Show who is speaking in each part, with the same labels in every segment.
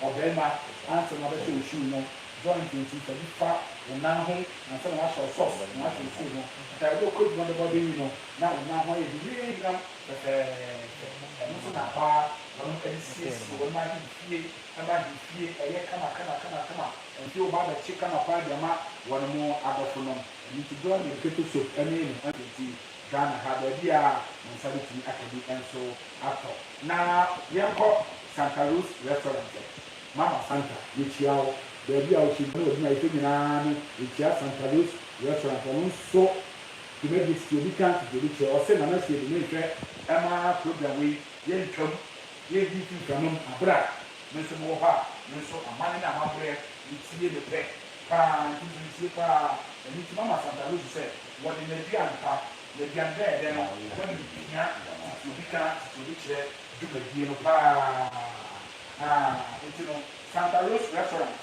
Speaker 1: Ɔbarima, ansa na wobɛhyɛ wo shoe no, joint nti fa bi fa wo nan ho, ansa na woahyɛ wo socks na woahyɛ wo shoe no. Ɛkae bere a wokɔɔ adwuma dɔbɔdɔbɔ yi no, na wo nan ho ayɛ hwinwinwinam fɛfɛɛfɛ. Ɛno nso na hɔ ara wɔnom de siesie, wɔnom ahefie ma ahefie ɛyɛ kama kama kama kama. Ɛnde woba abɛkye kama paa de ama wɔnom adɔfonom. Ɛno nti, joint ne potato soup ne ne orange nti, Ghana ha baabi a mo nsa bɛtumi aka bi nso atɔ na yɛnkɔ Santa Rose Restaurant ɛ. Mama Santa, yɛkyia wo baabi a wohyɛ gyina wɔ adwuma a yɛpɛ nyinaa no. Yɛkyia Santa Rose Restaurant, ɔno nso dwumadie tete obi ka tete obi kyerɛ. Ɔse Nana Siedu menhwɛ mma program wei yɛntwam yɛredi mfiri mframa mu aberɛ a me nso mewɔ hɔ a me nso amane ne amaberɛ metie no pɛ paa nti nso metie paa. Ɛno nti Mama Santa Rose sɛ Wɔde n'aduan pa, n'aduan dɛɛdɛ no ho animhia sisi obi ka odi kyerɛ dwumadie no pa ara. Enti no, Santa Rose Restaurant,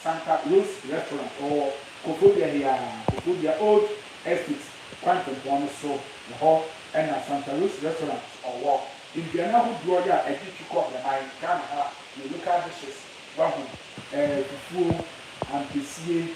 Speaker 1: Santa Rose Restaurant, ɔwɔ Koforidua he ara, Koforidua Old Estate kwantempɔn no so hɔ na Santa Rose Restaurant ɔwɔ. Nnuane ahodoɔ yɛ a ɛgye tu kɔ Breman, Ghana ha, yɛ local dishes, wahu, ɛɛ, fufuo, ampesie,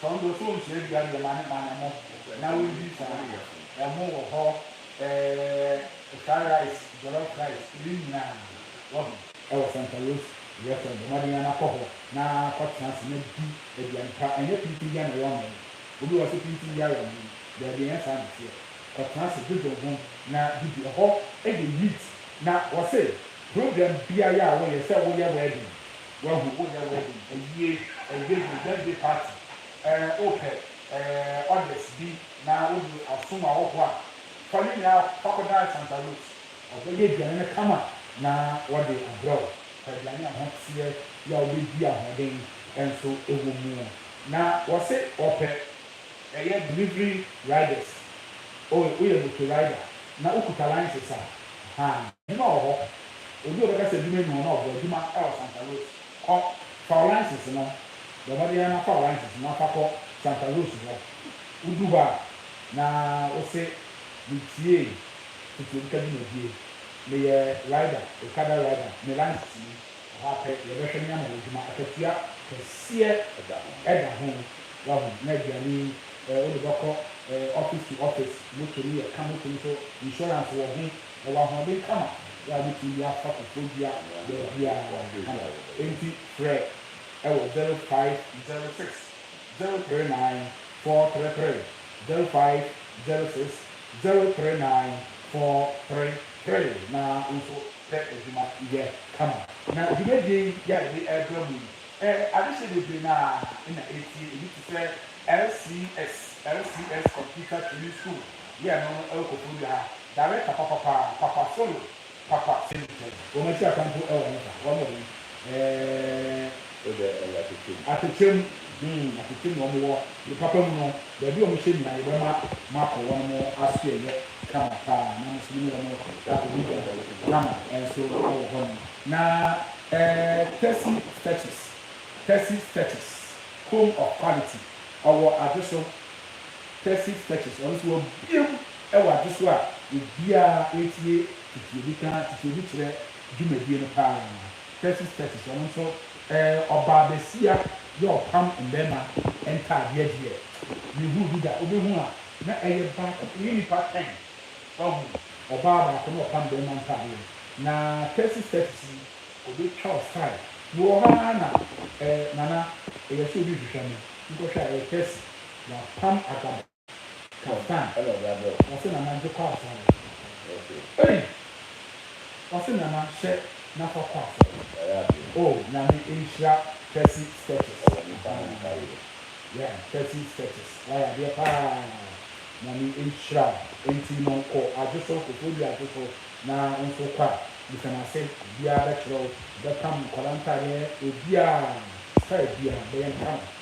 Speaker 1: Tɔn bosoo nkyea dua deɛ ma ne ma na mo na wo di saa ɛho wɔ hɔ ɛɛ fry rice jollof rice ɛwei nyinaa wahu. Ɛwɔ santa rose yɛ fɛ bɔ mmɔden ara na kɔ hɔ na kɔ tena ase na di aduane pa ɛnyɛ pintin bia na ɛyɛ ɔman yi obi wɔ hɔ sɛ pintin bia yɛ ɔman yi daabi ɛnyɛ saa na ɛteɛ kɔ tena ase dwodwo ho na di bi ɛhɔ yɛ neat na wɔ se program biara a wo yɛ sɛ wo yɛ wedding Wahu wo nɛ wedding awie ɛyɛ yie birthday party eh wo pɛ eh orders bi na wo de asom awɔfoɔ a fa ne nyinaa fa kɔ dan Santa Ruth ɔbɛyɛ aduane no kama na wɔde abrɛ wo fa aduane a ho teɛ yɛ a wobɛdi ahoɔden nso wɔ mu na wɔse wɔpɛ ɛyɛ delivery riders oh woyɛ motor rider na wokuta license a ahaa. Hena wɔ hɔ? Obi a ɔbɛka sɛ adwuma nni hɔ na ɔbɔ adwuma wɔ Santa Rosa? Kɔ, fa wo license no. Bɔ mmɔden ara na fa wo license na fa kɔ Santa Rosa hɔ. Wudu hɔ a, na wose, Mitie Tutuomka dwumadie. Meyɛ rider, okada rider. Me license ni. Ɛhɔ ara pɛ, yɛbɛhwɛ na yɛama wo adwuma. Akatua kɛseɛ da ho, wahu, na aduane yi, wode bɛkɔ office to office. Moto no yɛ ka, moto no nso, insurance wɔ ho. Ɔwɔ ahoɔden kama bere a wobetumi de afa kokoodua baabiara kama. Enti frɛ wɔ zero five zero six zero three nine four three three, zero five zero six zero three nine four three three, na wo nso pɛ adwuma yɛ kama. Na dwumadie yi a yɛde rebrɛ mo yi, adehyeɛ bebree no ara na ɛtie. Ebi te sɛ LCS, LCS Computer Training School, yɛ ɛno no wɔ Koforidua ha. Dare papapapaa papa so no papa sɛm pɛn. Wɔn akyi akwa mpo ɛwɔ he fa wɔn ɔyi ɛɛɛ. So dɛ ɛyɛ atɛkyɛ mu. Atɛkyɛ mu hmm atɛkyɛ mu wɔn wɔ ne papa mu no baabi wɔn hyɛ nyinaa yɛbɛ ma mo akɔ wɔn mo aso ɛyɛ kama paa na mo nso mo ne wɔn akɔ di dwa kama ɛnso ɛwɔ hɔ nom na ɛɛɛ Tessy Stretches Tessy Stretches home of quality ɔwɔ adwo so Texas, Texas, ɔno nso wabue mu wɔ adwo so a obiara retie tete obi ka tete obi kyerɛ dwumadie no pa ara. Texas, Texas, ɔno nso ɛɛ ɔbaa bɛsia yɛ ɔpam mmarima ntaadeɛ deɛ me hunu bi da wobɛ hunu a na ɛyɛ baako ɛyɛ nnipa ten wahu ɔbaa baako na ɔpam barima ntaadeɛ na Texas, Texas yi ɔbɛ twa wo style me wɔ hɔ ara na ɛɛ nana ɛyɛ sɛ obi rehwehwɛ me nkɔhwɛ a ɛyɛ Texas. W'apam adaba. Ka da a ɛna ɔde abrɛ wo. W'ase nana gye kɔ asɔre. Ei! W'ase nana hyɛ na fa kɔ asɔre. Oh Nyame nhyira Tessy Sketches ahaa yeah Tessy Sketches w'ayɛ adeɛ paa Nyame nhyira wo enti no kɔ adwoso kofoɔ dua adwoso na wo nso wokɔ a mesɛ no ase obiara bɛkyerɛ wo bɛpam nkwadaa ntaadeɛ obiara style biara bɛyɛ no kama.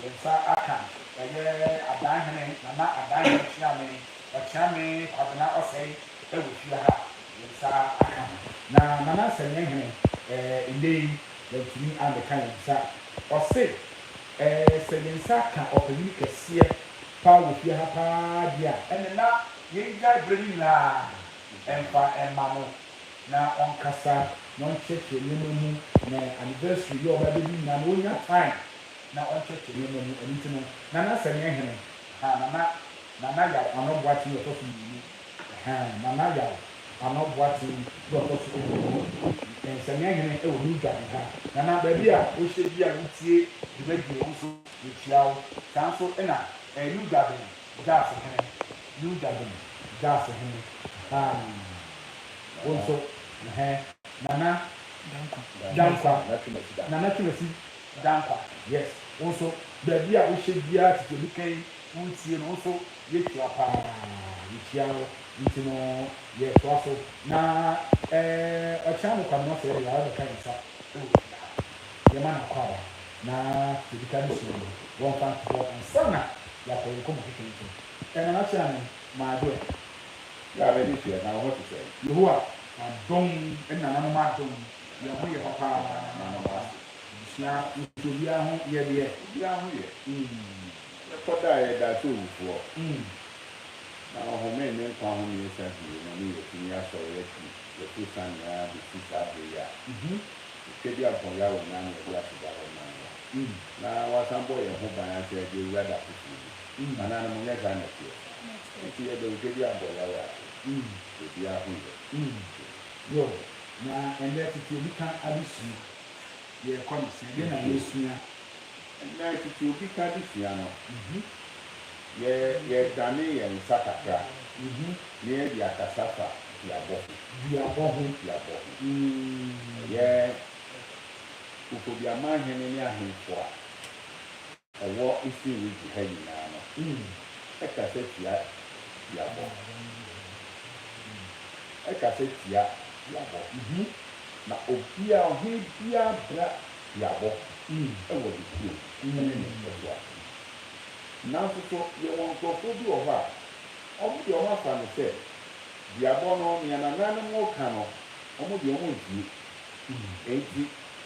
Speaker 1: Yɛn nsa aka ɛyɛ Adanhene Nana Adanhene Kyeame Ɔkyeame Kwabena Ɔsɛe ɛwɔ fie ha yɛn nsa aka ho. Na Nana Nsɛmeɛhene ɛɛ nnɛ yi wantumi ammɛka yɛn nsa ɔse ɛɛ sɛ yɛn nsa ka ɔpanyin kɛseɛ paa wɔ fie ha paa deɛ a ɛne na yɛn gyae berɛ no nyinaa ɛmfa ɛmma no na ɔnkasa na ɔnkyerɛkyerɛ nneɛma mu na anniversary yi a ɔbɛbɛ bi nyinaa no ɔnya time na ɔnhwehwe nneɛma mu, ɛno nti no na na sɛ nyɛ hene ahaa na na Nana Yaw Ano Boakye yɛ ɔtɔ so mmienu ahaa Nana Yaw Ano Boakye yɛ ɔtɔ so mmienu nsɛnneɛ hene wɔ New Dware ahaa na na baabi a wohyɛ bia na wotie dwumadie wo nso yɛkyia wo saa nso na ɛɛ New Dwaben Gas hene New Dwaben Gas hene ahaa wo nso ɛhɛɛ Nana Dankwa Nana Twumasi Da nkwa yes wo nso baabi a wohyɛ biaa tete obi ka yi wontie no wo nso yɛtua paa yɛkyia wo nti no yɛtoa so na ɛɛ ɔkyena ne kwame ɔsɛɛ deɛ waba bɛka yɛn nsa ɛwɔ fie ha yɛma no akɔ aba na deɛ ɔdi ka no sua no wɔmfa nto hɔ ansa na yɛakɔ yɛn nkɔmmɔ fefeefe ɛ Nana Kyeame my dear. Yɛ a m'ani
Speaker 2: gyeɛ na wo ho te sɛn? Yehowa adom
Speaker 1: ne nananom adom yɛn ho yɛ papa. Yɛda nananom ase. Abusua nso obiara ho yɛ deɛ. Obiara ho yɛ.
Speaker 2: Yɛkɔ da a yɛda sɛ owufoɔ. Na ɔhomee ne nkwa homeɛ sa bio na ne yɛ tumi asɔre yɛte yɛto sane ara bɛsi saa berɛ yi a Twadiampɔn Yaw Onyaa no adi aseda hɔ ma no a na wasan bɔ yɛn ho ban asɛ de awura da foforɔ mu anaa no monyɛ saa na ɛteɛ nti yɛda Otwadiampɔn Yaw ase sɛ obiara ho yɛ.
Speaker 1: Yoh. Na ɛnnɛ tete obi ka adesuo. yɛrekɔ no sɛn? Dɛn na yɛresua? Ɛnnɛ,
Speaker 2: tete obi ka de sua no, yɛ yɛredane yɛn nsa kakra na yɛde akasa fa duabɔ ho. Duabɔ ho. Duabɔ ho. Ɛyɛ Kofoduaman hene ne ahemfo a. Ɔwɔ Eastern Region ha nyinaa no kasa tia duabɔ. Kasa tia duabɔ. Na obia, ɔhene bia bra duabɔ wɔ ne kurom ne ne mpɛsoa. Nanso so yɛwɔ nkurɔfoɔ bi wɔ hɔ a, wɔn deɛ wɔn afa no sɛ duabɔ no, nea nananom reka no, wɔn deɛ wɔn ntie. Enti.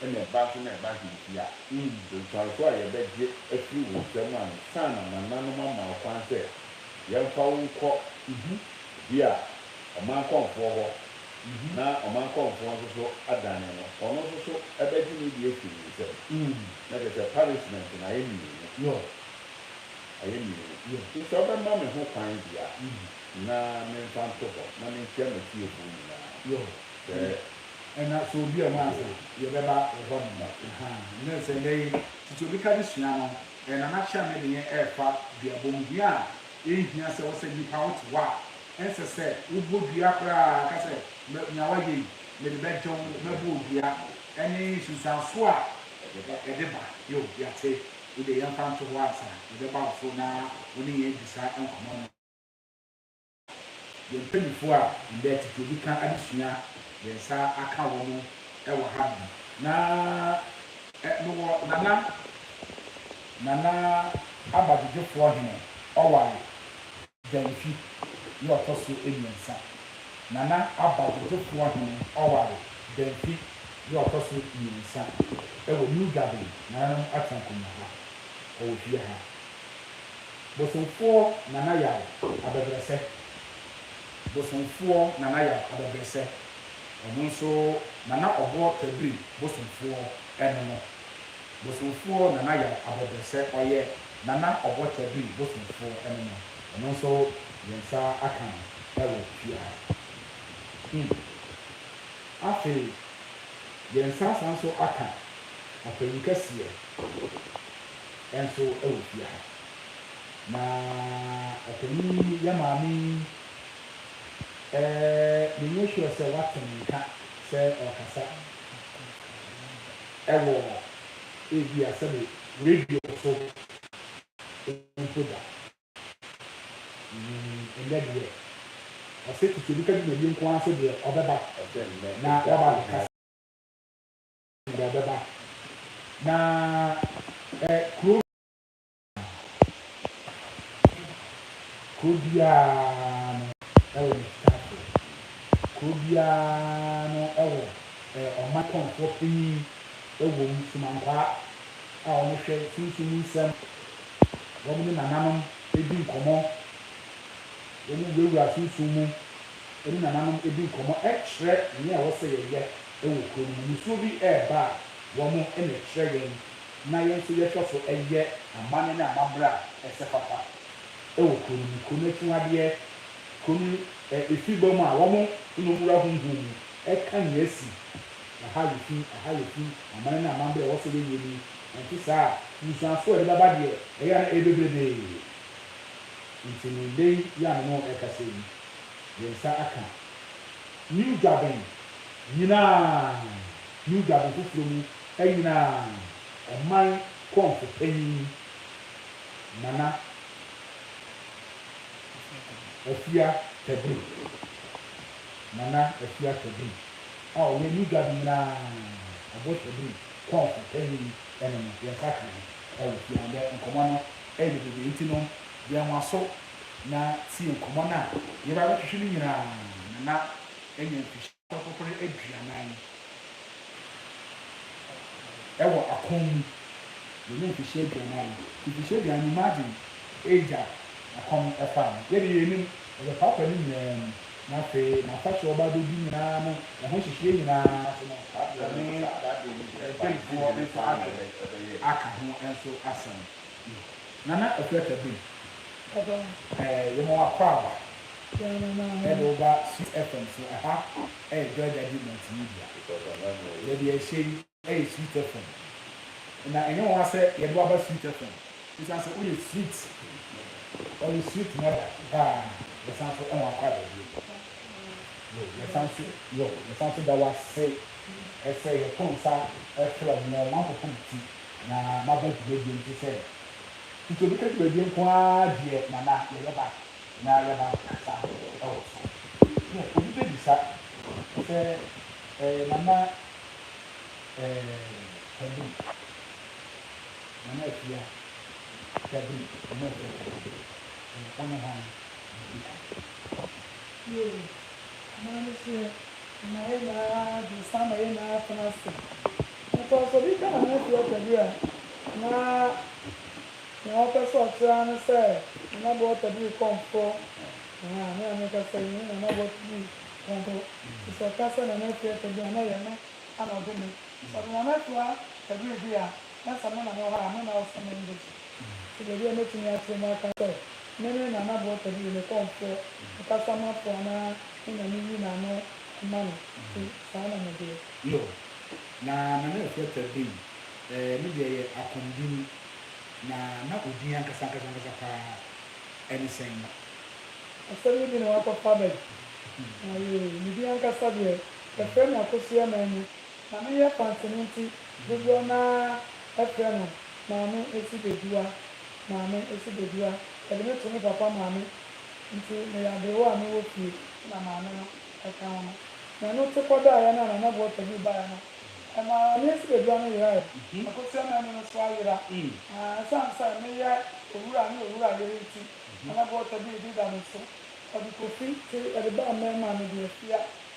Speaker 1: na ɛba
Speaker 2: nso na ɛba hintsi a, nsuanso a yɛbɛgye afiri wo nsam ansa na nananom ama wo kwan sɛ yɛmfa wo nkɔ bi a ɔmankɔmfoɔ hɔ na ɔmankɔmfoɔ nso so adane no, ɔno nso so bɛgye ne deɛ afiri ne nsam, na kyerɛ sɛ punishment no ayɛ mmienu, ayɛ mmienu. Nti sɛ wobɛma me ho kwan deɛ a, na memfa nto hɔ na menkyia m'afiefoɔ nyina ara, sɛ Ɛna sɛ
Speaker 1: obi a ɔmaa sɛ yɛ bɛ ba wɔ hɔ nom aha nɛ sɛ nɛ yi titi obi ka de sua no ɛna na hyɛ ne deɛ ɛɛfa dua bom dua a ɛnhia sɛ wosɛ nipa wo te hɔ a ɛnsɛ sɛ wo bɔ dua koraa ka sɛ mɛ nea wa yɛ yi me de bɛ gye wo mɛ bɔ wo dua ɛne nsunsuan so a ɛde ba yoo yate wo deɛ yɛn fa nto hɔ ansa yɛ bɛ ba wo so na wo ne yɛn adi saa nkɔmɔ no. Yɛn mpanyimfo a ndɛ tsetse obi kã adesua yɛn nsa akã hɔn wɔ ha bi na eh mowɔ nana nana aba dwodwofoɔ hene ɔware Gyamfi yɛ ɔtɔ so mmiɛnsa nana aba dwodwofoɔ hene ɔware Gyamfi yɛ ɔtɔ so mmiɛnsa ɛwɔ New Garden nananom Attankonyaba ɔwɔ fie ha. Bosomfoɔ Nana Yaw abɛbrɛsɛ Bosomfoɔ Nana Yaw abɛbrɛsɛ Ɔno nso Nana Ɔboɔ Tabiri Bosomfoɔ ɛno no Bosomfoɔ Nana Yaw abɛbrɛsɛ Ɔyɛ Nana Ɔbɔ Tabiri Bosomfoɔ ɛno no Ɔno nso yɛn nsa aka no ɛwɔ pia hmm Afei yɛn nsa asan nso aka Ɔpanyin kɛseɛ. nso wɔ fie ha. Na ɔpanyin yi yɛ maame yi eh, menyɛ sure sɛ woate ne nka sɛ ɔrekasa wɔ ebia sɛbe radio so mpo da. Mm, ɛnnɛ deɛ, ɔse Tete Obi ka dwumadie nko ara so deɛ ɔbɛba na waba abɛkasa. Deɛ ɛbɛba na ɛ kuro. Kuro biara no wɔ ne sikafoɔ. Kuro biara no wɔ ɛ ɔmmatɔnfoɔ panin wɔ mu, somankwaa a wɔhwɛ sunsum mu nsɛm. Wɔne nananom di nkɔmmɔ. Wɔwurawura sunsum mu. ne nananom di nkɔmmɔ kyerɛ nea ɛwɔ sɛ yɛyɛ wɔ kurom no. Nisuo bi reba a, wɔn na ɛkyerɛ yɛn, na yɛn nso yɛhwɛ so yɛ amanne ne amammerɛ a ɛsɛ papa wɔ kuro no mu. Kuro no akyiwadeɛ, kuro no afibɔ mu a wɔn nom wura honhom mu ka nea asi. Ɛha yɛ fi, ɛha yɛ fi. Amanne ne amammerɛ a ɛwɔ sɛ yɛyɛ ni, ɛnte saa a, nsuansoɔ a ɛde bɛba deɛ, ɛyɛ a na ɛyɛ bebrebee. Enti ne nnɛ yi yɛ a me ne wo rekasa yi, yɛn nsa aka New Durban nyinaa, New Durban foforɔ mu nyinaa, ɔman kɔmfo panin Nana Afia Tabu, Nana Afia Tabu a ɔyɛ New Durban nyinaa ɔbɔ tabu kɔmfo panin no no, yɛn nsa aka no wɔ fie ha. Ɛnnɛ nkɔmmɔ no yɛ bebrebe nti no, yɛn waso. na tsie nkɔmbɔ no a yɛreba abɛtwetwe no nyina na na enya mfirihyia ɔtɔpɔpɔr eduanan wɔ akɔn mu. Yenya mfirihyia eduanan, mfirihyia eduanan no imagine age a akɔn faa no. Yɛdze yenyim ɔbɛpaapa ne nyina mu na afei n'afahyɛ a ɔba abɛdu nyina no ho nhyehyeɛ nyina so no wɔne mpanyimfoɔ nso adze aka ho nso asɛm. Nana Afurasa Bem, eh, yɛma wo akwaaba, yɛde wo ba Swiss FM so, ɛha yɛ Joy Daddy Multimedia, baabi a ɛhyɛ yi yɛ Sweet FM, na ɛnyɛ nwanwa sɛ yɛde wo aba Sweet FM, ɛsiane sɛ woyɛ sweet, ɔyɛ sweet mother paa, yɛsan nso ma wo akwaaba bio, yo, yɛsan nso, yo, yɛsan nso da wo ase sɛ yɛto nsa frɛ wo, nea ɔmanfo fam ti Na maba dwumadie nti sɛ tete obi ka dwumadie nko ara deɛ Nana yɛyɛ ba na yɛaba abɛkasa wɔ so. Nɛ obi bɛbisa sɛ ɛɛ Nana ɛɛ Kevin, Nana Appiah Kevin, Nana Appiah Kevin wone hwan na ɔdi kan? Yei, Nana
Speaker 3: Meseɛ Ɛma yɛn nyinaa adwene san ma yɛn nyinaa tena ase. Nanso sɛ obi ka ne ho afi ɔpɛ bi a, na nea ɔpɛ sɛ ɔkyerɛ ara ne sɛ Nana Boatadiri kɔ mporɔ. Aha, me a meka sɛ yɛne Nana Boatadiri kɔ mporɔ. Nti sɛ ɔka sɛ Nana Akua Tadiri a, na ɛyɛ me ara na ɔde me. Sɛ ɔde Nana Akua Tadiri di a, Na sɛ me na mewɔ hɔ a, me na ɔsɛ me nkwagye. Nso baabi a mɛtumi ateɛ mu aka sɛ, Me ne na na Bota di, me kɔmfoɔ, me kasamafo anaa me na me nyi n'ano ma no, nti saa na medeɛ. Yo,
Speaker 1: na na me ɛfrɛ pɛ bem, ɛɛ, me deɛ yɛ akɔm dini, na na odin ankasa ankasa ankasa paa ɛne sɛn no? Asɛm
Speaker 3: no bi na wakɔ fa aba yi, na yee, me din ankasa deɛ, yɛfrɛ me Akosua Manu. Na me yɛ pantene nti dodoɔ no ara ɛfrɛ no maame esi bedua maame esi bedua yɛde me to me papa maame nti me yɛ aberewa a me wɔ fie na maame no ɛka ho no na ɛno te kɔ daeɛ no a nana buɔta bi baeɛ no maame esi bedua no yeraeɛ akosia maame no nso ayera aa ɛsiane sɛ me yɛ owura ne owura yere nti nana buɔta bi redi da me so ɔde kofi te yɛde baa mɛɛma no deɛ fia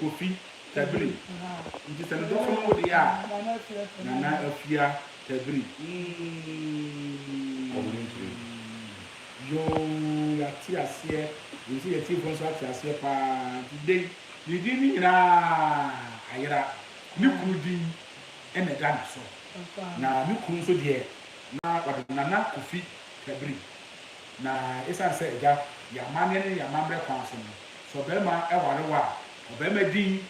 Speaker 1: Kofi Tabiri nti sɛ ne dɔfo no wo deɛ a Nana Afia Tabiri eeii yoo yɛate aseɛ wei sɛ yɛatiefoɔ nso ate aseɛ paa nti dei ne din no nyinaa ayera ne kunu din na ɛda ne so na ne kunu nso deɛ na ɔde no Nana Kofi Tabiri na ɛsiane sɛ agya yɛ amanneɛ ne yɛ amammerɛ kwan so no Sɛ ɔbarima ware wo a, ɔbarima din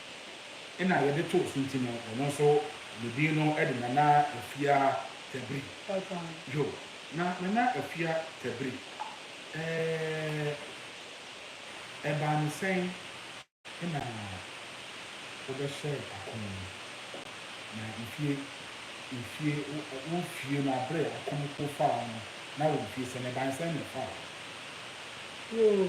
Speaker 1: na yɛde to so nti no, ɔno nso ne din no de Nana Afia Tabiri. Yo, na Nana Afia Tabiri, eh, ɛbaa no sɛn na wobɛhyɛɛ ako no? Na mfie, mfie, wo mfie no abere a akofoɔ faa wo no, na wɔ mfie sɛn? Ɛbaa no sɛn na ɛfaa wo?
Speaker 3: Yo,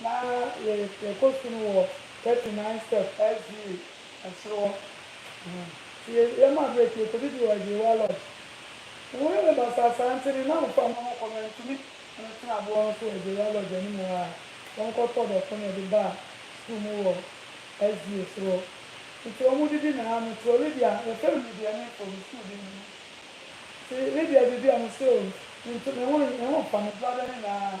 Speaker 3: Ná yɛrepɛ kɔto no wɔ Thirty Nine Step SDA ɛsoro hɔ. Nti yɛmaa berɛ ti yɛkɔdidi wɔ Agyeiwa Lodge. Wɔyɛ me basasaa nti ne nnamfo a mama kɔ no antumi ne me tena aboɔ no so wɔ Agyeiwa Lodge anim hɔ ara. Wɔkɔtɔɔ dɔko na yɛde baa sukuu mu wɔ SDA soro hɔ. Nti wɔdidi na aa mete hɔ. Lydia, yɛfrɛ no Lydia ne mpo ne sukuu din no. Nti Lydia didi a mese oo, mentu, me ho, me ho mfa me, bra bɛne me aa.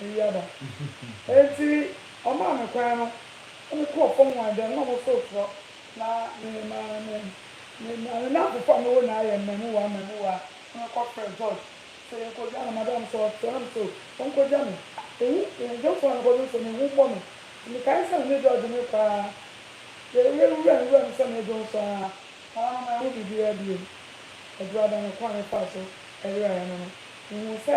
Speaker 3: Wiaba. Enti ɔmaa me kwan no na mekɔɔ fam hɔ a, ɛdɛm na ɔmo so torɔ. Na me maa me me maa me namfofo a mewɔ nyinaa yɛ mmɛmuwaa mmɛmuwaa na me kɔ frɛ George sɛ yɛn kɔ gya no. Madam sɛ ɔtrɛ na me sɛ oh ɔnkɔ gya me. Ehu yɛn dwomfo a mekɔ dwom sɛ na ehu bɔ me. Na me kae sɛ me ne George me kɔ aa yɛ yɛ nwura nwura mu sɛ me dwom so aa na ama ma ɛho biribiara biom. Aduru ada no kwan a me faa so yeraeɛ no no me huu sɛ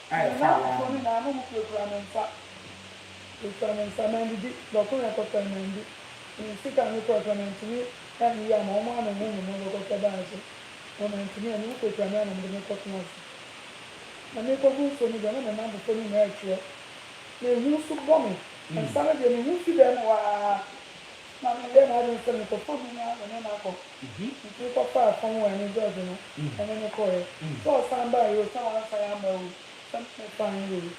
Speaker 1: a ɛfa Nana afoforɔ no
Speaker 3: nyinaa na wɔkurakura me nsa kura me nsa mandidi bɛko yɛ kɔsɛɛ mandi me sika a me kura kura mantumi anyi yɛ ama wɔn a me ho mema bɛkɔ sɛ baa so na wɔn antumi anyi wɔkura kura me a na wɔde me kɔtena ase na me kɔ gu nsuo no deɛ na me nam fofoɔ no nyinaa ɛtwerɛ na ɛhu nso bɔ me nsa no deɛ me ho fi dɛm hɔ aa Ná meyɛ m'adwene sɛ mekɔfa me nua me ne no akɔ. Mitumi kɔfaa fam wɔ ɛne George no, ɛne no kɔeɛ. Sɛ ɔsan baeɛ oo, sɛ wansan amma oo, sɛ me na mefaeɛ oo,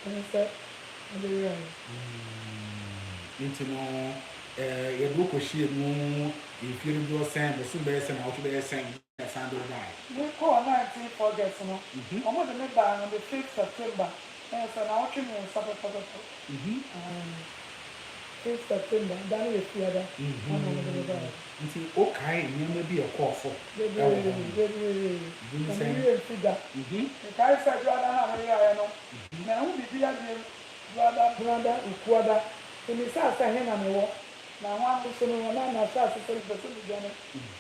Speaker 3: ɛne sɛ mede weraeɛ.
Speaker 1: Enti no, yɛde wo kɔhyiaa mu mfeɛ dodoɔ sɛn, bosome bɛyɛ sɛn, awotwe bɛyɛ sɛn? Me kɔɔ Nantin
Speaker 3: project no, ɔmo de me baa on the fifth September, ɛyɛ sɛ naawɔtwe mmiɛnsa pɛpɛpɛpɛ, fifth September, da no yɛ Fiada, ɛna ɔmo de me baeɛ.
Speaker 1: Nti wo kae nneɛma bi a ɛkɔɔ so wɔ hɔ no?
Speaker 3: Bebree, bebree, na me wie mfi da. Me kae sɛ Dwoada no a me yeraeɛ no, manhu biribiara biem, Dwoada, Dwoada, Ukuada, me misaa sɛ he na me wɔ? Na hɔn so no, hɔn a m'asaase sɛɛ no bɛtɔ me gya no,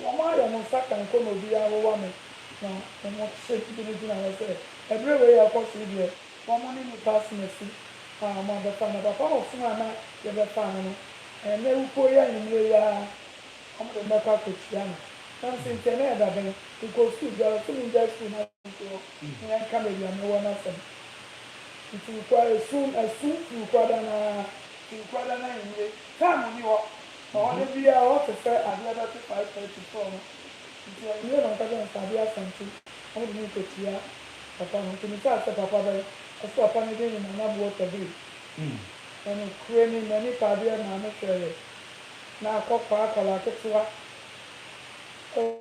Speaker 3: wɔayɛ mo nsa kankɔ ma obiara awowa me. Na hom se gyinagyina hɔ sɛ, Ber a wei rokɔ so yi deɛ, hom ne nyimpa asenasi a hom abɛfa, na papa ɔsom a nna yɛbɛfa no no, nna ewupow yi anwumber yi ara hom dze no bɛkɔ akotua no. Naaso nkyɛ nna yɛda bɛn, mokɔ skuul biara so mungyae skuul no a. Nkoa, Hia nka me deɛ mewɔ no asɛm Nturukwaa ɛsu ɛsu Nturukwaa da no ara Nturukwaa da no anwummere Time nni hɔ na hɔ da biara hɔ te sɛ adeɛ bɛto 5:30 sɔɔ no Nti anwummere na ɔka sɛ nfa adeɛ asante na wode me nkɔ tua papa no Nti metaa sɛ papa bɛn Ɔse papa no din ne Nana Buota Bay Na nokorɛ ni m'ani paa adeɛ maame hwɛeɛ na akɔkwaa akwadaa ketewa oh.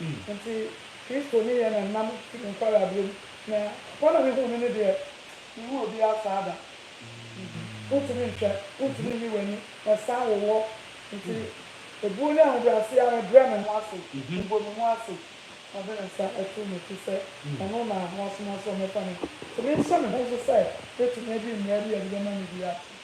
Speaker 3: Nti Kristo ne yɛn na nam fi ne nkwareaberɛ mu, na papa na mehuu no no deɛ, menhuu obiara saa da. Wontumi nhwɛ, wontumi nyi w'ani, ɛsan wo wɔ. Nti ɛbuo ne ahobrɛaseɛ ara mebrɛ me ho ase, mebɔ me mu ase, na de me nsa ato m'ati sɛ ɔno na wasoma sɛ ɔmmɛfa me. Nti menhyɛ me ho nso sɛ mɛtumi adi mmara bi a ɛde bɛma me biara so.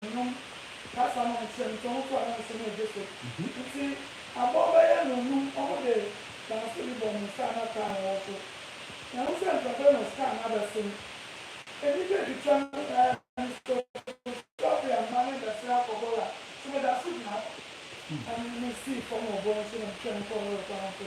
Speaker 3: Nnwom, kasa na nkyerɛmkyerɛmu kɔ ananse ne ogye so. Ntsi abɔw bɛyɛ anuonum wɔde dance bi bɔ mo star na kaa no hɔ so. Mehu sɛ mprɛmprɛ na star no abɛsen. Enyigye etwitwa me paa nso Sophia mma me mbɛsera akɔbɔ la. So meda so gyina hɔ? Ame mesii fam wɔ bɔ no so na metwɛn kɔr no rekɔ no nso.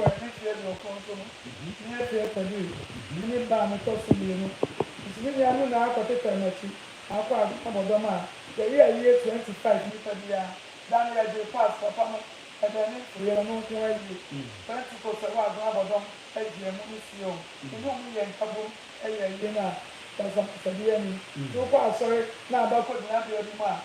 Speaker 3: Wɔ mfeefeɛ aduokron so no, me afeɛ Fadil, me ne ba a metɔ so mmienu, nso me nua no naa kɔtetɛɛ m'akyi akɔ agumammɔdɔm a yɛyɛ a yɛyɛ 25 nnipa biara da na yɛgyee pass papa no ɛna ani ntoeɛ no nko ara yie. Fɛnsi kɔsua wɔ agumammɔdɔm agyiɛ mu no sie o, me ne wɔn yɛɛ nkabom yɛɛ ayie no a basabasayɛ nnim. Wokɔ asɔre na aba kɔgyina bea bi mu a,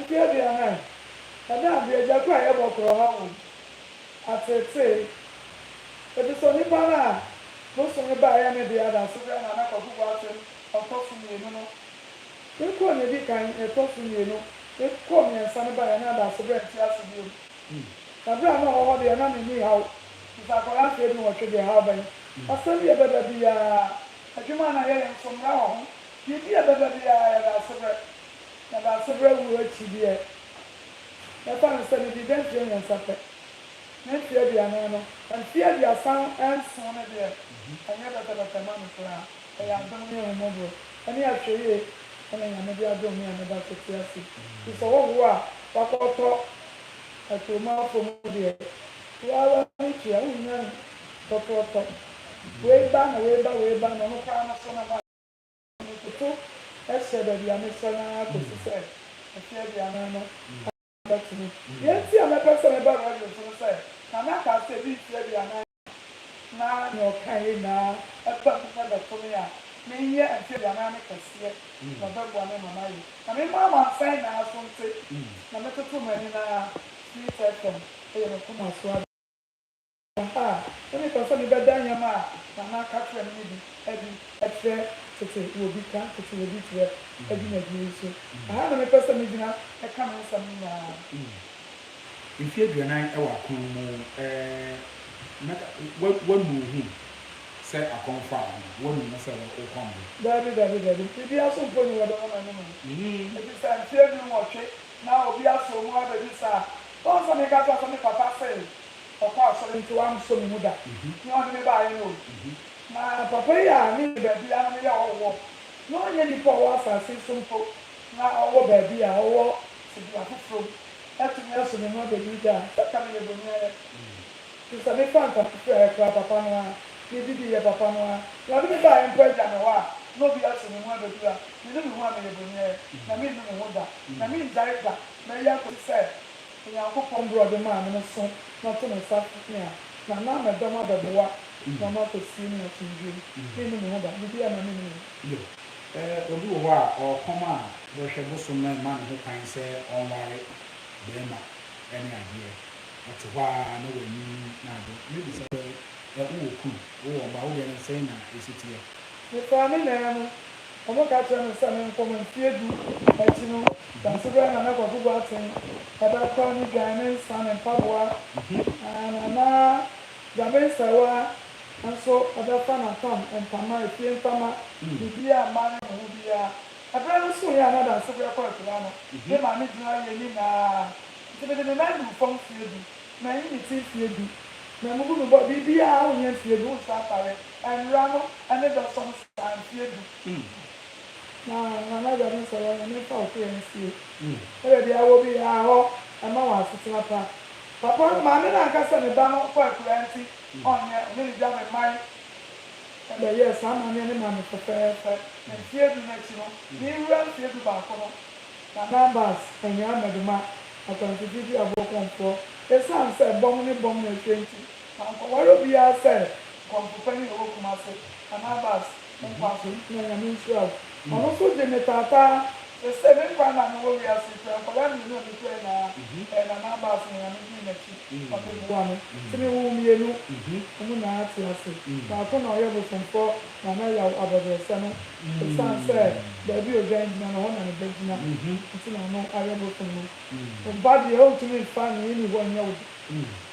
Speaker 3: Mfe aduanan, ɛna mbre egya kor a yɛbɔ kor ɔha hɔn atseetsee. Efisɛ onipa no a bosome ba a ɛyɛ ne dea da so bɛn na na Kwakubu ato no ɔtɔ so mmienu no? Ne kɔɔ nea edi kan, nea ɛtɔ so mmienu, ne kɔɔ mmiɛnsa no baeɛ na da so berɛ nte ase bio. Na berɛ a na ɔwɔ hɔ deɛ na ne nni haw, efisɛ akwadaa mfeɛ dunwɔtwe deɛ haw bɛn? Asɛm bi a ɛbɛba biara, adwuma a na yɛyɛ nso, mmara wɔ ho, biribi a ɛbɛba biara yɛda ase berɛ, Na baasa bira wuo akyi deɛ, mɛfa no sɛ medii dɛ mfeɛ mmiɛnsa pɛ, ne mfeɛ aduanan no. Mfeɛ aduasa nson no deɛ, ɛnyɛ bɛtɛbɛtɛ mma me koraa. Ɛyɛ adom ne ahummɔborɔ ne ahwɛyie na Nyame de adom me a me ba so te ase yi. Nti sɛ ɔwo a wakɔtɔ aturomafoɔ mu deɛ, wo ara w'ani tua, wonnya no tɔtɔɔtɔ. Wei ba na wei ba, wei ba na ɔno koraa no so na moayɛ. Mekoto hyɛ baabi a mehwɛ no ara kosi sɛ mfe aduanan no ka bɛto mu. Nea enti a mɛpɛ sɛ meba radio so ne sɛ, Nana kaa sɛ edu mfe aduanan a, na nea ɔkaeɛ nyinaa ɛba mu na ɛbɛto me a, menyɛ mfe aduanan no kɛseɛ na ɔbɛboa me ma mayɛ. Na me mma amansan nyinaa so nte na metoto m'ani no ara, firi sɛ fam yɛ me koma so ade. A, na mepɛ sɛ mebɛda nneɛma a Nana ka kyerɛɛ me no bi adi kyerɛ tete wɔ bi ka tete wɔ bi kyerɛ dwumadie yi so. Ɛha na mepɛ sɛ megyina ka me nsɛm no nyinaa. Mfeɛ
Speaker 1: aduanan wɔ akɔn mu na woanu wo ho sɛ akɔn faa wo, woanu wo ho sɛ wo kɔn bo. Daabi, daabi, daabi.
Speaker 3: Biribiara so mpo nni hɔ dɛ woma no mu. Ɛfisɛ mfeɛ du-nwɔtwe na obi aso mu abɛduru saa. Woahu sɛ meka kyerɛ wo sɛ me papa se Ɔkɔ asɔre nti wansɔ me mu da. Nea ɔde me baeɛ no o. Na papa yi a me ne baabi a na meyɛ hɔ wɔ, na ɔnyɛ nipa a ɔwɔ asase yi so mpo, na ɔwɔ baabi a ɔwɔ tebea foforɔ mu, atumi aso me mu abɛduru da a, sɛ anka meyɛ bɔni ara. Te sɛ mefa ntafokuaeɛ koraa, papa no ara, medidiiɛ, papa no ara, nea ɔde me baeɛ mpo agya me hɔ a, na obi aso me mu abɛduru a, menu me ho a meyɛ bɔni ara, na mennu me ho da, na mennyae da, mɛyɛ akɔsi sɛ. Onyankopɔn berɛ a ɔde maa me no so na ɔte ne nsa pɛn a, na na mɛdɔm abɛboa na ɔno akɔsie me asomdwoeɛ mu. Menni me ho ba, biribiara mma menni me ho ba. Yoh. Obi
Speaker 1: wɔ hɔ a, ɔɔkɔm a, bɛhwɛ bosom no mma ne ho kwan sɛ ɔnware bɛɛma ne adeɛ. Ɔte hɔ ara na w'anyinyim n'ado. Mɛbisa sɛ, Wowɔ kunu? Wowɔ mma? Wodeɛ no sɛn na ɛsi teɛ? Mefaa
Speaker 3: me nan mu. Wɔka kyerɛɛ me sɛ menkɔ mu. Mfeɛ du akyi no, Daasebrɛ na na Kwaku Boateng bɛkora ne dwan, ne nsa, ne mpaboa, na na Gyame Nsawah nso bɛfa n'apam ntama, efie ntama, biribiara a mmaa no de ho biara. Ɛberɛ no soeɛ a na Daasebrɛ kɔ akura no, me maame gyina yɛn anim aa, nti mede ne nan duu fam mfeɛ du, manyi ne ti mfeɛ du, mammubu me bɔɔ, biribiara a wonyɛ mfeɛ du, wonsan mfare, nnwera no ne dɔsɔ no so. Mfie du na na m'agya no sɔre a ɔyɛ me mfa wo kɔ yɛn fie na baabi a wɔ biara hɔ ɛma wɔn asetena pa. Papa no maame no anka sɛ ne ba no fɔ akuraa nti ɔnyɛ, ɔne ne gya bɛmae na bɛyɛɛ saa amanneɛ no maa me fɛfɛɛfɛ. Na mfie du no akyi no, merewura mfie du baako no, na na bus annya mmɛde ma akwantudeɛ bi a boɔ kɔmfoɔ, ɛsiane sɛ bɔm ne bɔm na ɛhwɛ nti. Mankɔware obiara sɛ Kɔmfo Panyin a ɔwɔ Kumase, Anabas, Mpoaso no kura Nyame nhyira o. Ɔno nso gye me taataa. Sesei me nkwa nna a mewɔ wiase yi koraa, nkwadaa mmienu a mikura nyinaa, ɛyɛ Nana Abas na Nyame dii m'akyi ma meboa no. Nti mewoo mmienu. Wɔn nyinaa ate ase. Baako na ɔyɛ bosomfoɔ Nana Yaw abɔdrɛsɛ no. Esiane sɛ baabi a odwan gyina no, ɛhɔ na ne ba gyina nti na ɔno ayɛ bosom no. Wo mpa deɛ, ontumi mfa nea enni hɔ nyɛ wo de.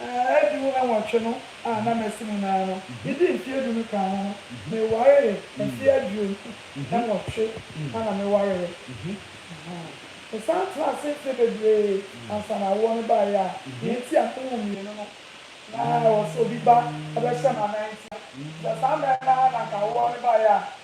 Speaker 3: Mfe du nwɔtwe no a na masi mu no ara no, midii mfe eduonu kaa ho no, mewaree. Mfe aduonu nwɔtwe ara na mewaree. Mesan tenaa ase mfe bebree ansa na awoɔ no baeɛ a nea enti a mewo mmienu no, na ɛwɔ sɛ obi ba bɛhyɛ m'anan ntia. Sɛ saa mmarima a na anka awoɔ no baeɛ a,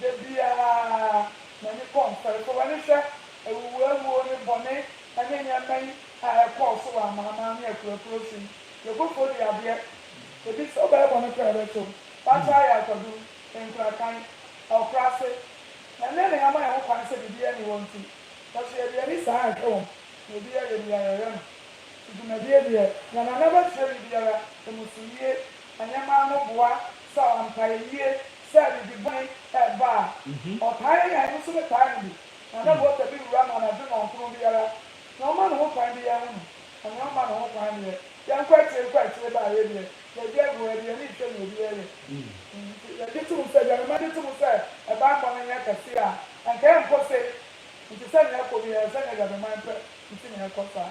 Speaker 3: Da biara, m'ani kɔ Nkwarefo w'ani hwɛ awuwuawuo ne bɔne ne nneɛma yi a ɛkɔɔ so wɔ amanaman ne akuroakuro so yi. Yɛ bo fo de adeɛ. Ebi sɛ wobɛyɛ bɔne koraa a ɛbɛto wo. Fakyɛ ayɛ akwadum, nkurakan, ɔkora ase. Na nnɛ nea yɛama yɛn ho kwan sɛ biribiara nni hɔ nti, nanso yɛde yɛn ani saa hwɛ wɔn na obiara yɛ deɛ yɛyɛ no. Te dwumadie deɛ, nea Nana bɛkyerɛ me biara, ɛmu so yie. Ɛnyɛ mma ano boa, saw ampaeɛ yie, Sɛ biribi bɔne ba a, ɔtaa yɛ nea ɛno nso ne taa no bi, na na Walter bi wura ma no adwene wɔn koro biara. Nea ɔma ne ho kwan de, yɛnhu no, na nea ɔmma ne ho kwan deɛ, yɛnkɔ akyire nkɔ akyire ba a, yei deɛ, yɛadi agoru, yɛde yɛn ani rehwɛ nea obi reyɛ. Enti yɛgye tom sɛ, Gyamema gye tom sɛ, ɛbammɔ no nyɛ kɛse a, anka ɛrenkɔ sei. Enti sɛnea ɛrekɔ biara, sɛnea Gyamema pɛ nti na ɛrekɔ saa.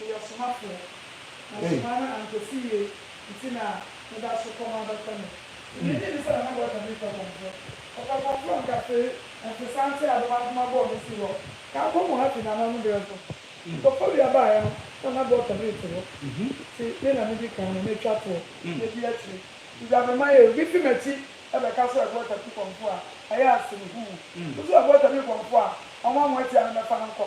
Speaker 3: Eyɛ ɔsomafoɔ, na nsomaa no antɔ so yie nti na me ba so kɔm abɛtɔ no. Mede gyee ne sɛ na m'abɔta bi mfa kɔmporɔ. Ɔfa kɔmporɔ nkafee, ntesã nte a bɛma akoma bɔɔ no si hɔ. Kaa kɔm wɔ ha fi n'ananmu berɛ so. Nkɔfɔ wia baaeɛ no na m'abɔta bi nte hɔ. Nti me na medi kan na matwa toɔ adi akyire. Dwa me ma yɛ. Obi fi m'akyi bɛka sɛ ɔrebɔta bi kɔmpo a, ɛyɛ asene huu. Wo nso ɔrebɔta bi kɔmpo a, ɔma mo atia no mɛfa no nkɔ.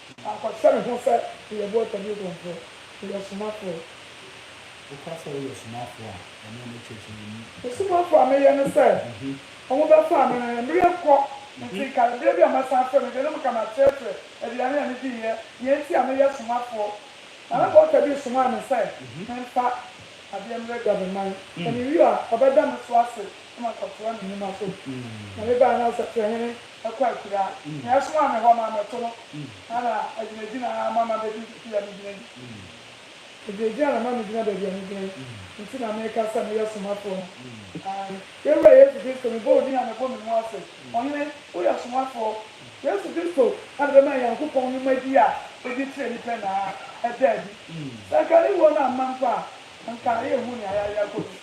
Speaker 3: Ɔkɔkyerɛ ne ho sɛ ɔyɛ boatani odwumfoɔ, ɔyɛ ɔsomafoɔ.
Speaker 1: Woka sɛ woyɛ ɔsomafoɔ a, ɛno ne kyerɛkyerɛni ka. Ɔsomafoɔ a meyɛ
Speaker 3: ne sɛ, wɔbɛfa amena yɛ, merenkɔ, nti ka berɛ bi a mɛsan afrɛ me deɛ na meka makyerɛkyerɛ aduane a mediiɛ, deɛ nti a meyɛ ɔsomafoɔ. Na na bɔɔta bi resomaa me sɛ memfa adeɛ mmerɛgya me man, na mewie a ɔbɛda me so ase na makɔtoa ne nnwuma so. Na mebaeɛ no, ɔsɛkyerɛhene kɔ akuraa. Nea ɛsomaa me hɔ maa mɛto no na na agyinagyina ara ma mabedu baabi a megyina yi. Agyinagyina na ɛma megyina baabi a megyina yi nti na meka sɛ meyɛ somafoɔ no. Aane, yɛn Wura Yesu Kristo, mebɔ wo din a mebɔ me mu ase. Ɔhene, woyɛ somafoɔ. Yesu Kristo na ɛbɛma yɛn Nyankopɔn nwumadi a ɛdi kyerɛ nnipa nyinaa ada adi. Sɛ anka ne wuo no amma mpo a, anka yɛnhu nea yɛayɛ akɔdu,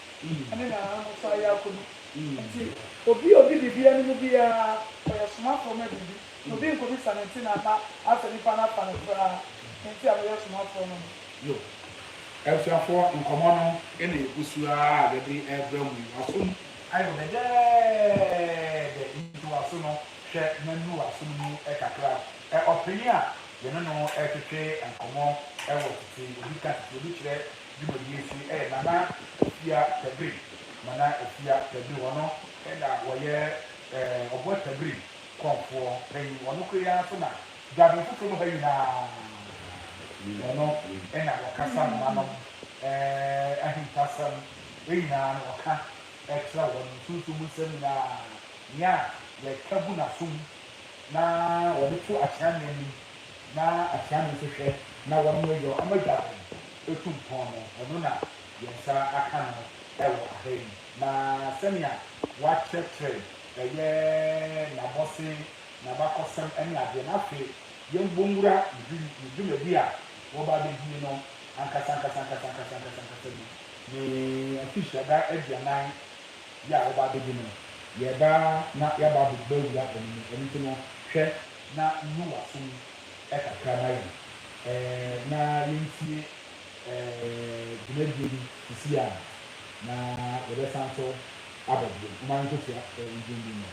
Speaker 3: ɛne nea yɛn ahosoɔ ayɛ akɔdu. Enti, obi a odi biribi anim biara, ɔyɛ somafoɔ ma biribi, na obi nkɔbisa no nti na ama asɛ nipa no afa no koraa, enti a moyɛ somafoɔ ma no. Yoh.
Speaker 1: Abusuafoɔ, nkɔmmɔ no na yɛgu so ara a yɛde rebrɛ mo yi. W'asom ayɛ wo dɛdɛɛdɛ, enti w'aso no, hwɛ na nu w'aso no mu kakra. Ɔpanin a yɛne no retwetwe nkɔmmɔ wɔ tete, obi ka tete, obi kyerɛ Dwumadie yi nso yɛ Nana Afia Tabiri, Nana Afia Tabiri, ɔno na ɔyɛ Ɔboɔ Tabiri kɔmfoɔ panin, ɔno koro yi ara nso na Dwaben foforɔ mu ha nyinaa ɔno na ɔkasa mma nom, ahintasɛm nyinaa no ɔka kyerɛ wɔn, nsunsum mu nsɛm nyinaa, nea yɛka gu n'asom na ɔde to Akyeame anim na Akyeame nso hwɛ na wɔyɔ ama Dwaben. etu mpɔn no, ɔno na yɛn nsa aka no wɔ ha yi, na sɛnea wɔakyerɛkyerɛ ɛyɛ n'abɔsen, n'abakɔsɛm ne adeɛ no, afei yɛmbom nwura ne dwumadi a wɔba abɛdie no ankasankasankasankasankasankasa mu. Ne Mfehyida aduanan yɛ a wɔba abɛdi no, yɛreba na yɛaba abɛwura ɛno mu, ɛno nti no, hwɛ na nnu w'aso mu, kakra ma yɛn eh, na yɛntie eh, dwumadie bi sisi a na yɛbɛsan so aba bio. Momma yɛnkɔtua eh, ndwom bi mmra.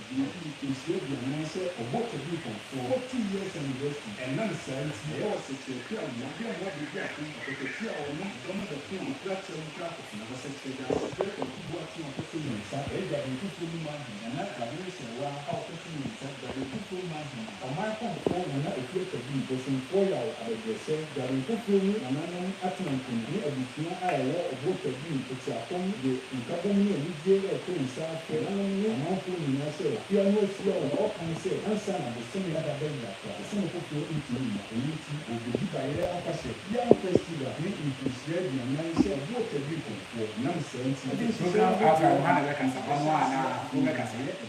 Speaker 1: Nya mfomsoɔ bi anaasɛ ɔbɔ ka bi mfomsoɔ. Kɔ two years anniversary. Ɛnam saa nti, ɛyɛ ɔsɛkyerɛ bi a mmoa bi mmoa de di ako, ɔkatatua a ɔnom nneɛma de ko a ɔkura akyerɛ no kra akofena hɔ sɛkyerɛ de ase frɛ kwaku boateng ɔpɛsɛ onya nsa ɛyɛ dwabenkurofoɔ no mu ahene nana dwabere nhyerɛwaa a ɔpɛsɛ onya nsa dwabenkurofoɔ no mu ahene. Ɔman kɔnkɔn na na ɛfiri aka bi, bosomfoɔ yaw, abɛbrɛsɛ, dwarenko kuo mu nananom atenankunu ne abusua a ɛwɔ ɔboɔ twa bi mu tete afam de nkabom ne anigyeɛ reto nsa afrɛ nananom ne ɔmanfoɔ nyinaa sɛ afiaa no ahyia o na wɔkae sɛ ansa na bosome no ada bɛn da koraa bosome foforɔ ntumi mma ɛno nti wɔbɛyi bayerɛ afahyɛ biara festival ne mfirihyia aduanan sɛ ɔboɔ twa bi kɔnfoɔ ɛnam saa nti ɛde nhyehyɛeɛ ahodoɔ a ɛwɔ hɔ no bɛhyia nnwuma.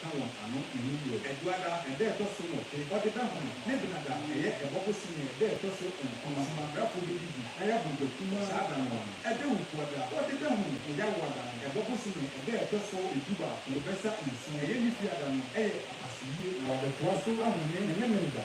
Speaker 1: ka wɔn ano nnum bio. Aduada ɛda a ɛtɔ so nwɔtwe, Ɔdedahome, ne Benada a ɛyɛ Ɛbɔ bosome ɛda a ɛtɔ so nkron, Asomabrɛfo no didi na yɛ bɔ gya kumaa saa da no ano. Dawukuada, Ɔdedahome, ɛyɛ Awoada no Ɛbɔ bosome ɛda a ɛtɔ so du baako, bɛsa nson, ɛyɛ Nifiada no, ɛyɛ apasoyie na wɔde toa so ahome ne Memeneda.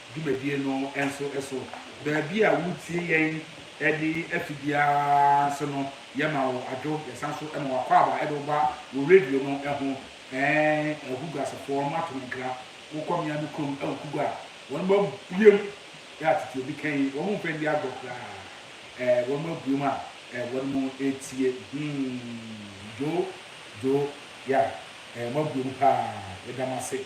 Speaker 1: dwumadie no nso so. Baabi a woretie yɛn de ato biara nso no, yɛma wo adwo. Yɛsan nso ma wo akwaaba de wo ba wɔ radio no ho. Ɛɛ Oguguasefoɔ, moato me nkra. Wokɔ mmea no kurom wɔ Kugua a, wɔabuem a tete obi ka yi, wɔmpɛ nni agorɔ koraa. Ɛɛ wɔabuem a wɔretie. Humm, Joe, Joe, yeah, ɛɛ moabuem paa. Yɛda mo ase.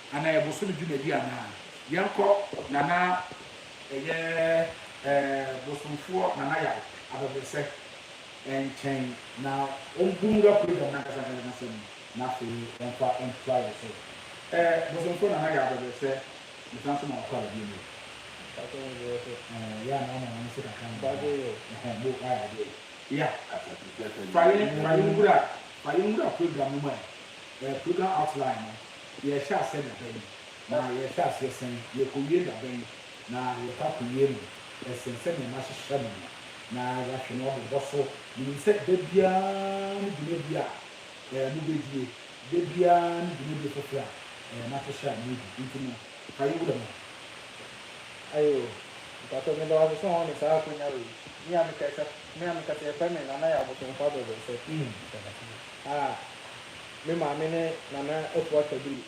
Speaker 1: Anaa yɛ bosome dwumadi anaa. Yɛnkɔ nana ɛyɛ ɛɛ bosomfoɔ nana yaw abɛbrɛsɛ nkyɛn na ɔmbu nwura program no ankasa ankasa n'asɛm mu na afei ɔmfa ntra yɛ so ɛɛ bosomfoɔ nana yaw abɛbrɛsɛ mesan so ma wakɔ ara bio no ɛɛ yɛ anaa ɔma wɔn se kakra no ɛhɛn bo ayɛ adeɛ ya fa yɛn fa yɛn nwura fa yɛn nwura program no mu ɛɛ program outline no. Yɛrehyɛ aseɛ da bɛn, na yɛrehwɛ aseɛ sɛn? Yɛrekɔwie da bɛn, na yɛrekɔ akɔwie no sɛn? Sɛdeɛ mahyehyɛ no no, na yɛahwɛ no abobɔ so. Menim sɛ da biara ne dwumadie a mobɛdie, da biara ne dwumadie foforɔ a mahyehyɛ a moredi. Enti no, fa yɛ wura mu.
Speaker 4: Ayo, mpakyɛw, meda wo ase sɛ wɔama me saa akwanya wei. Me a mekasa, me a mekasa, yɛfrɛ me Nana Yaw Botomfo Abrɛbrɛsɛ. Ah! Me maame ne Nana Afua Sadulu.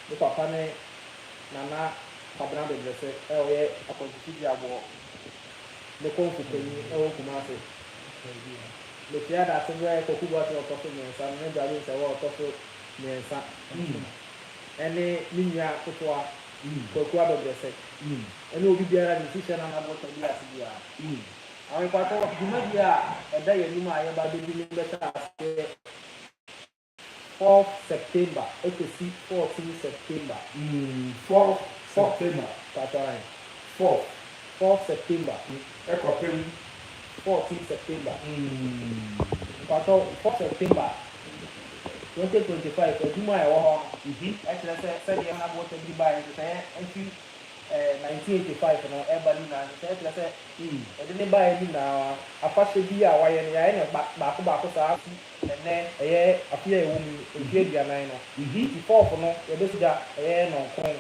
Speaker 4: Me papa ne Nana Kwabena Bebrese a ɔyɛ Akwantutu Gyeaboɔ ne Kɔmfo panyin wɔ Kumase. Mekyerɛ adase berɛ Kwaku Boateng ɔtɔ so mmiɛnsa no ne Bradley Nsawah ɔtɔ so mmiɛnsa ne me nua ketewa Kwaku Abebrese ne obi biara de nsi hyɛ Nana Boateng bi ase biara. Ankwatɔ dwumadie a ɛda yɛn anim a yɛba abɛdi no bɛhyɛ aseɛ fourth September ɛkɔsi fourteen September. Mm, fourth
Speaker 1: September. Mpakyɛ ahe?
Speaker 4: Fourth.
Speaker 1: Fourth September.
Speaker 4: Ɛkɔpem.
Speaker 1: Fourteen
Speaker 4: September. Mm. Mpakyɛ fourth September twenty twenty five adwuma a ɛwɔ hɔ no, ɛkyerɛ sɛ sɛdeɛ na boɔ tɛbiri baeɛ nhyehyɛeɛ firi 1985 no reba no nyinaa nhyehyɛe kyerɛ sɛ yɛde no bae no nyinaa afahyɛ bi a wɔayɛ no, yɛayɛ no baako baako saa ara kosi ɛnnɛ, ɛyɛ afe a yɛwom yi, mfe aduanan no. Epifɔɔfo no, yɛbɛsi gya, ɛyɛ nnɔnkron,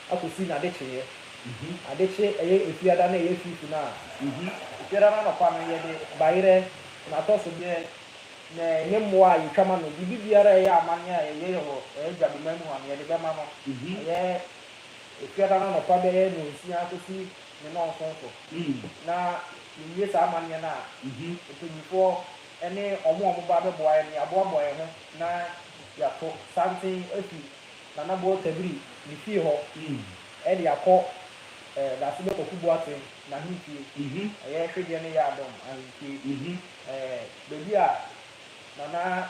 Speaker 4: akosi N'adekyeeɛ. Adekye, ɛyɛ Efiada no a ɛyɛ Fifo no a, Efiada no anɔpa no yɛde bayerɛ, n'atɔsodeɛ, ne ne mmoa a yɛtwa ma no, biribi biara a ɛyɛ amanneɛ a yɛyɛ wɔ Yɛn Agya Bemma mu a, nea yɛde bɛma no, ɛyɛ. Ebiara no anɔpa bɛyɛ nnɔnsia kosi ne nnɔnson so na yewie saa amanneɛ no a, mpanyimfoɔ ne wɔn a wɔba abɛboa yɛn no, yɛaboaboa yɛn ho na yɛato santen afi Nana Boɔ Tabiri ne fie hɔ de akɔ Dasebɛ Kwaku Boateng n'ahemfie, ɛyɛ Hwedeɛ ne Yaadɔm ahemfie, baabi a Nana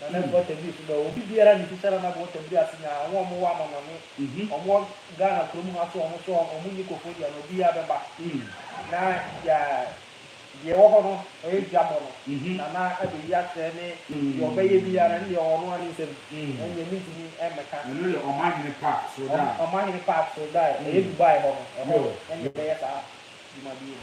Speaker 4: Na na ɛboɔ tɛmbi nso bɛ hɔ. Obi biara nim sisɛra na boɔ tɛmbi ase nya wɔn a wɔwɔ amɔnɔne, wɔn wɔ Ghana kurom ha so wɔn nso wɔn nni kofodia no obiara bɛba na deɛ deɛ ɛwɔ hɔ no ɛyɛ dwa bɔ no na na abɛyi akyerɛ ne deɛ ɔbɛyɛ biara no deɛ ɔno ne nsam ɛnneɛ mentumi mmɛka. Ɛno yɛ Ɔmahene
Speaker 1: Park Sordae. Ɔmahene Park
Speaker 4: Sordae ɛyɛ Dubai hɔ no ɛhɔ na ɛbɛyɛ saa dwumadie no.